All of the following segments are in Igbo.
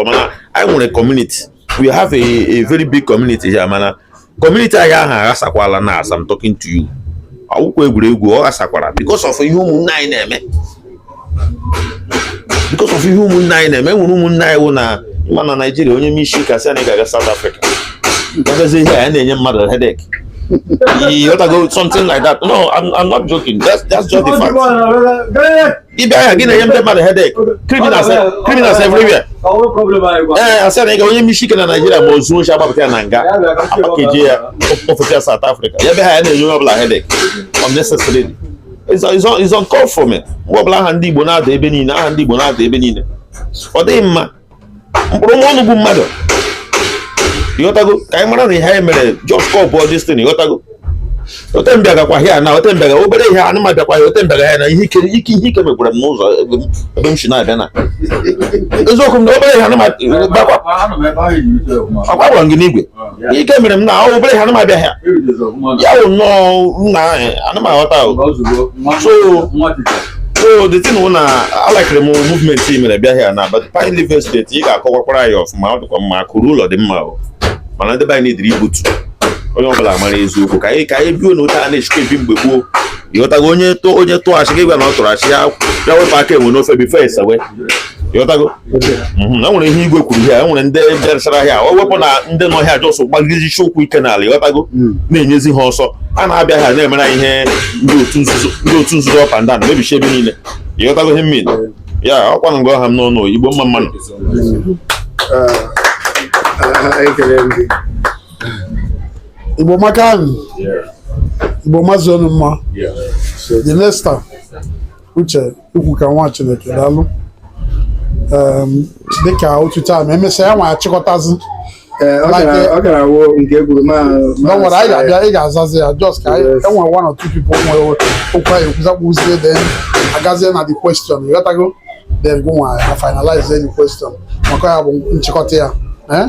ọzọ mana anyị nwere kọmuniti we have a, a very big community here mana kọmuniti anyị ahụ aghasakwala na as I'm talking to you awụkwa egwuregwu ọ ghasakwara because of ihe ụmụnne anyị na-eme because of ihe ụmụnne anyị na-eme nwere ụmụnne anyị wụ na ịma na Naịjirịa onye mesikasị anyị ga-aga South Africa agazi hịa na-enye mmadụ headache ịghọtago something like that no I'm, I'm not joking that's, that's just the fact ị bịa hịa gị na-enye ndị mmadụ hedek criminals everywhere ee asị na ị ga onye mesi ike na naijiria ma o zuo oshi agbapụta ya na nga apakeji ya ofesi ya South Africa ya bịa hịa ya na-enye onye ọbụla hedek unnecessarily it's uncalled for me mgbe ọbụla aha ndị Igbo na-ada ebe niile aha ndị Igbo na-ada ebe niile ọ dịghị mma mkpụrụ nwa ọnụ bụ mmadụ ịghọtago ka anyị mara na ihe anyị mere just call bụ this thing ịghọtago ote m bịagakwa hịa na ote m bịaga obere ihe anụ m abịakwa ya ote m bịaga ya na ihe ike ike ihe ike megbura m n'ụzọ ebe m si na-abịa na eziokwu m na obere ihe anụ m abịakwa agwakwara m gị n'igwe ike mere m na obere ihe anụ m abịa hịa ya wụ nnọọ nna ahụ ana m aghọta ahụ so so the thing wụ na alaịkịrị m movement i mere bịa hịa na but pine living state ị ga-akọwakwara anyị ọfụma ọ dịkwa mma akụ ruo ụlọ dị mma o mana ndị be anyị need reboot onye ọbụla mara eziokwu ka anyị ka anyị biwe na otu a na-esikwa ebi mgbe gboo ịghọtago onye tụọ onye tụọ asị gị gwa na ọ tụrụ asị ya ya wepụ aka enwe n'ofe bifo esewe ịghọtago mhm, e nwere ihe igwe kwuru ihe e nwere ndị bịaruchara hịa o wepụ na ndị nọ hịa jọsụ gbagidesi ụkwụ ike n'ala ịghọtago hmm. na-enyezi ha ọsọ a na-abịa ha na-emere ihe ndị otu nzuzo up and down emebisi ebe niile ịghọtago ihe mmiri ya ọkwa na ngwa ọha m n'ọnụ igbo mma mma nụ hmm. ah, ah, igbo makanụ igbo mazuonụ mma the next time uche ukwu ka nwa chineke daalụ dịka otu taa ma emesịa ya nwa achịkọtazi eh, ọ gara awụ nke ekwuru ma nwere anyị ga-abịa ị ga-azazi ya just ka enwere e one or two people nwere okwu anyị ekwuzakpụzie then agazie na the question ịghọtago then gị nwa ya finalize any question maka ya bụ nchịkọta ya eh?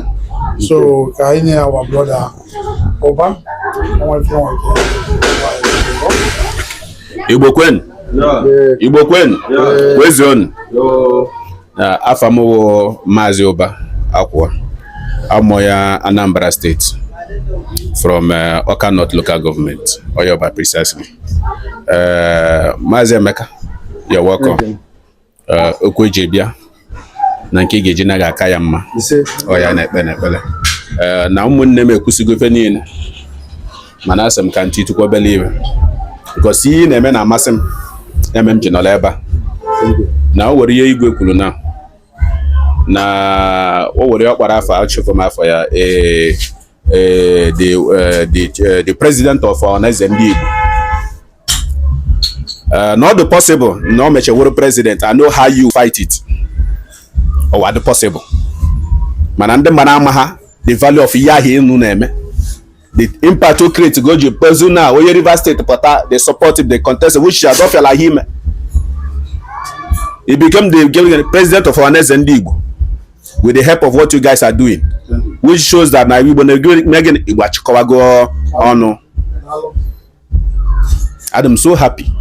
so ka anyị nye our brother ụba igbo kwenu igbo kwenu kwezuonu afa m wụ maazị ụba akwụwa amụọ ya anambra steeti from eh, ọka north local government onye ọba precisely eh, maazị emeka you're welcome eh, okwu eji bịa na nke ị ga-eji naa ga-aka ya mma ọ ya na-ekpe n'ekpere eh, na ụmụnne m ekwusigo ife niile mana asị m ka m titukwu obele ihe because ihe ị na-eme na-amasị m eme m ji nọrọ ebe a na o were ihe igwe kwuru na na o were ọkpara afọ achụfụ m afọ ya ee eh, the, eh, the, eh, the president of Ọhaneze ndị Igbo uh, na ọ dị possible na ọ mechee wụrụ president I know how you fight it ọ wa dị possible mana ndị mmadụ amaha the value of ihe ahụ ụnụ na-eme the impact o create go ji kpezu na onye Rivers State pụta the support the contest which is adọfiala ihe ime he became the president of Ọhaneze ndị Igbo with the help of what you guys are doing which shows that na Igbo na-eme gịnị Igbo achịkọwago ọnụ adị m so happy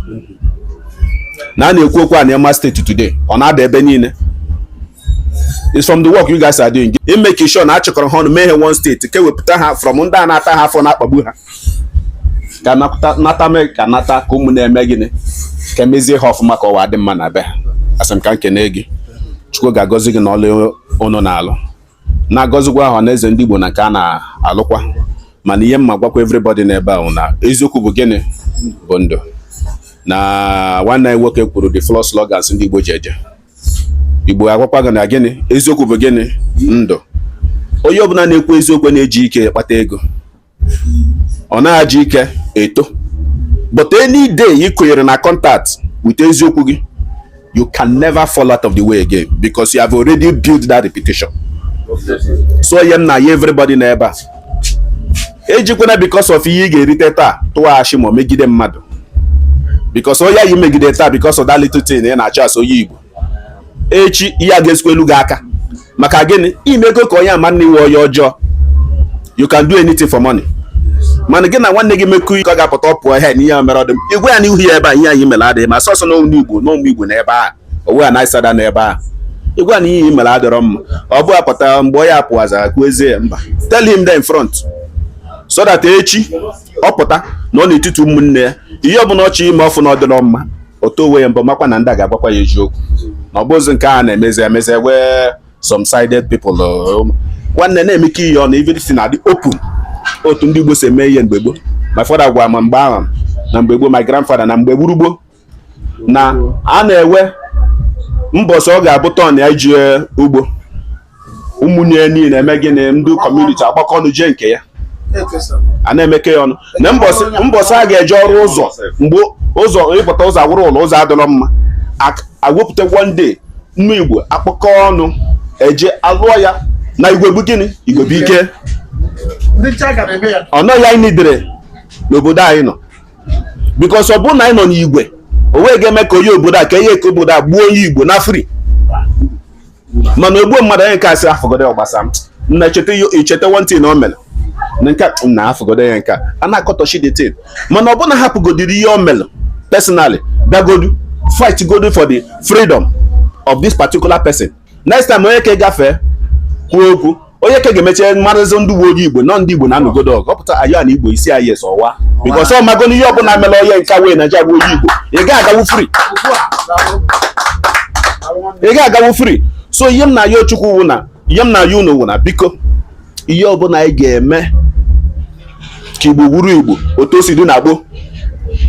na a na-ekwu okwu Anioma steeti today ọ na-ada ebe niile is from the work you guys are doing. ị make sure na achịkọrọ ha ọnụ mee ha one steeti ka ewepụta ha from ndị a na-ata ha afụfụ na-akpagbu ha ka nata mee ka nata ka ụmụnna mee gịnị ka emezie ha ọfụma ka ọ wa dị mma na be ha asị m ka m kene gị Chukwu ga-agọzi gị na ọlụ ụnụ na-alụ na-agọzikwa Ọhaneze ndị Igbo na nke ha na-alụkwa mana ihe m ma-agwakwa everybody n'ebe a bụ na eziokwu bụ gịnị bụ ndụ na nwanne anyị nwoke kwuru the floor slogans ndị Igbo ji eje Igbo agwakwa gị na gịnị eziokwu bụ gịnị ndụ onye ọbụla na-ekwu eziokwu na-eji ike kpata ego ọ na-eji ike eto but any day ị kụnyere na contact with eziokwu gị you can never fall out of the way again because you have already built that reputation so ọ ya m na-ayọ everybody na ebe a ejikwana because of ihe ị ga-erite taa tụwa ashị ma megide mmadụ because onye i megide taa because of that little thing ị na-achọ as onye Igbo echi ya ga-esekwelu gị aka maka gịnị i mego ka onye a ma na ị wụ onye ọjọọ you can do anything for money mana gị na nwanne gị mekọ ihe ọ ga-apụta ọ pụọ ihe na ihe a mere adị mma ị gwa ya n'ihu ya ebe a ihe anyị mere adịghị mma sọsọ n'ụmụ igbo n'ụmụ igbo na ebe a owe a na-asada na ebe a ị gwa ya na ihe mere adịrọ mma ọ bụ apụta mgbe ọ ya pụwa azụ kwuwezie mba tell him there in front so that echi ọ pụta nọọ n'etiti ụmụnne ya ihe ọbụla ọ chọọ ime ọ fụ na ọ dịrọ mma ọ tụọ onwe ya mbọ makwa na ndị a ga-agwakwa ya eziokwu na ọ bụzi nke a na-emezi emezi wee some sided people um, nwanne na-eme ka ihe ọ na everything na-adị open otu ndị Igbo si eme ihe mgbe gboo my father gwara m mgbe ahụ na mgbe gboo my grandfather na mgbe gboo gboo na a na-enwe mbọsị ọ ga-abụ turn ya ije ugbo ụmụnne niile eme gịnị ndị community agbakọ ọnụ jee nke ya a na-emekọ ya ọnụ na mbọsị a ga-eje ọrụ ụzọ mgbe ụzọ ị pụta ụzọ awụrụ ụlọ ụzọ adịrọ mma ewepụta one day ụmụ igbo akpọkọ ọnụ eje alụọ ya na igwe bụ gịnị igwe bụ ike ọ nọ ya anyị nidere n'obodo anyị nọ because ọ bụrụ na anyị nọ n'igwe o wee ga-eme ka onye obodo a ka ihe ka obodo a gbuo onye igbo naa free mana o gbuo mmadụ onye nke a sị hafụgodi ọ gbasa m na echeta icheta one thing o mere na nke na hafụgodi ya nke a na-akọtọchi the thing mana ọ bụrụ na hapụgodiri ihe o mere personally bịagodu fight godu for the freedom of this particular person next time onye ke gafee kwuo okwu onye ke ga-eme echi amarazi na ebe onye igbo nọ ndị igbo na-anụgodu ọgụ ọ pụta ayo na igbo isi ayes ọwa because ọ mago na ihe ọbụla mere onye nke wee na ya wụ onye igbo ị ga-agawu free ị ga-agawu free so ihe m na-ayọ chukwu wụ na ihe m na-ayọ unu wụ na biko ihe ọbụla anyị ga-eme ka igbo wụrụ igbo otu o si dị na gboo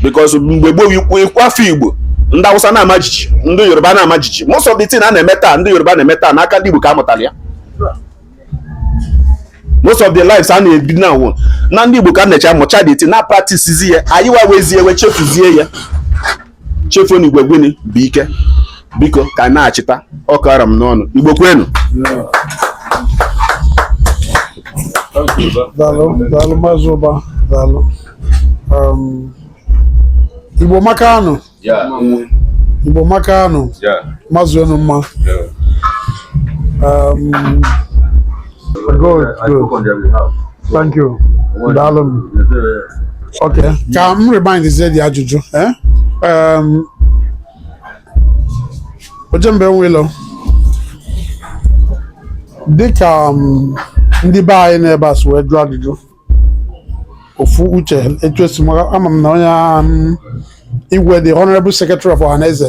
because mgbe gboo i kwuo afa igbo ndị awụsa na-ama jiji ndị yoruba na-ama jiji most of the thing a na-eme taa ndị yoruba na-eme taa n'aka ndị igbo ka a mụtara ya most of the lives a na-ebi now wụ na ndị igbo ka a na-eje amụcha the thing na-practice ya anyị nwa nwezi ya wee chefuzie ya chefuo na igwe gịnị bụ ike biko ka anyị na-echeta ọ ka ọ ra m n'ọnụ igbo kwenu daalụ igbo amaka nụ igbo amaka nụ mazi ọnụ mma um, Good, good. Thank you. Daalụ m. Okay. Ka m remindzie the ajụjụ. eh? Um, Ojemba enwe ilo, dịka um, ndị be anyị n'ebe a si wee jụọ ajụjụ, ofu uche echesi m ama m na onye um, igwe the honorable secretary of Ohanaeze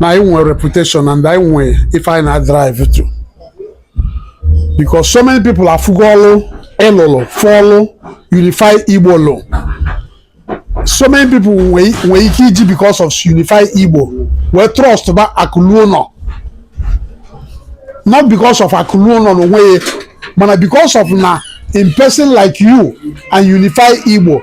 na anyị nwere reputation and anyị nwee ife anyị na-drive to because so many people afụgo ọlụ ị lụlụ fụ ọlụ unify igbo lụ so many people nwee ike iji because of unify igbo wee trust ba akụluo ụnọ not because of akụluo ụnọ na onwe ya mana because of na in person like you and unify igbo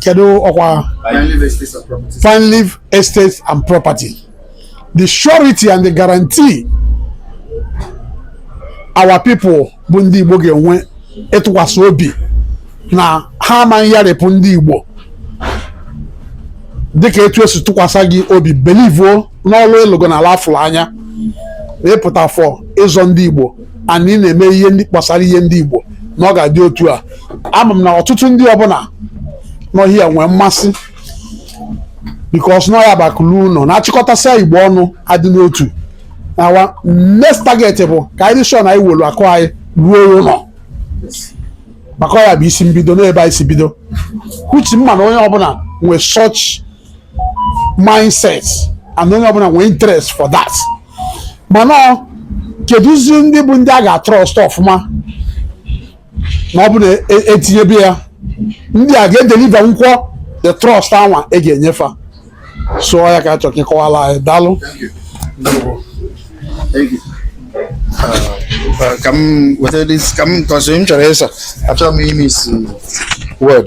kedu ọkwa fine live estates and property the surety and the guarantee our people bụ ndị Igbo ga-enwe ịtụkwasị obi na ha amaghị yarịpụ ndị Igbo dịka etu e si tụkwasị gị obi belivuo n'ọlụ ị lụgo n'ala a fụrụ anya ị pụta for ịzọ ndị Igbo and ị na-eme ihe ndị gbasara ihe ndị Igbo na ọ ga-adị otu a ama m na ọtụtụ ndị ọbụla n'ọhịa ya nwee mmasị because na ọya bụ akụ luo ụlọ na a chịkọtasịa Igbo ọnụ a dị n'otu na next target bụ ka anyị dị sure na anyị welu akụ anyị ruo ụlọ maka ọya bụ isi mbido n'ebe anyị si bido which m ma na onye ọbụla nwee such mindset and onye ọbụla nwee interest for that mana kedụzi ndị bụ ndị a ga-atrust ọfụma na ọ bụ na e tinyebe ya ndị a ga-edeliver nkwọ the trust anwa e ga-enye fa so ọ ya ka a chọ ka ị kọwala anyị daalụ ka m weta ka m tọsị m chọrọ ịsa achọrọ m ime isi word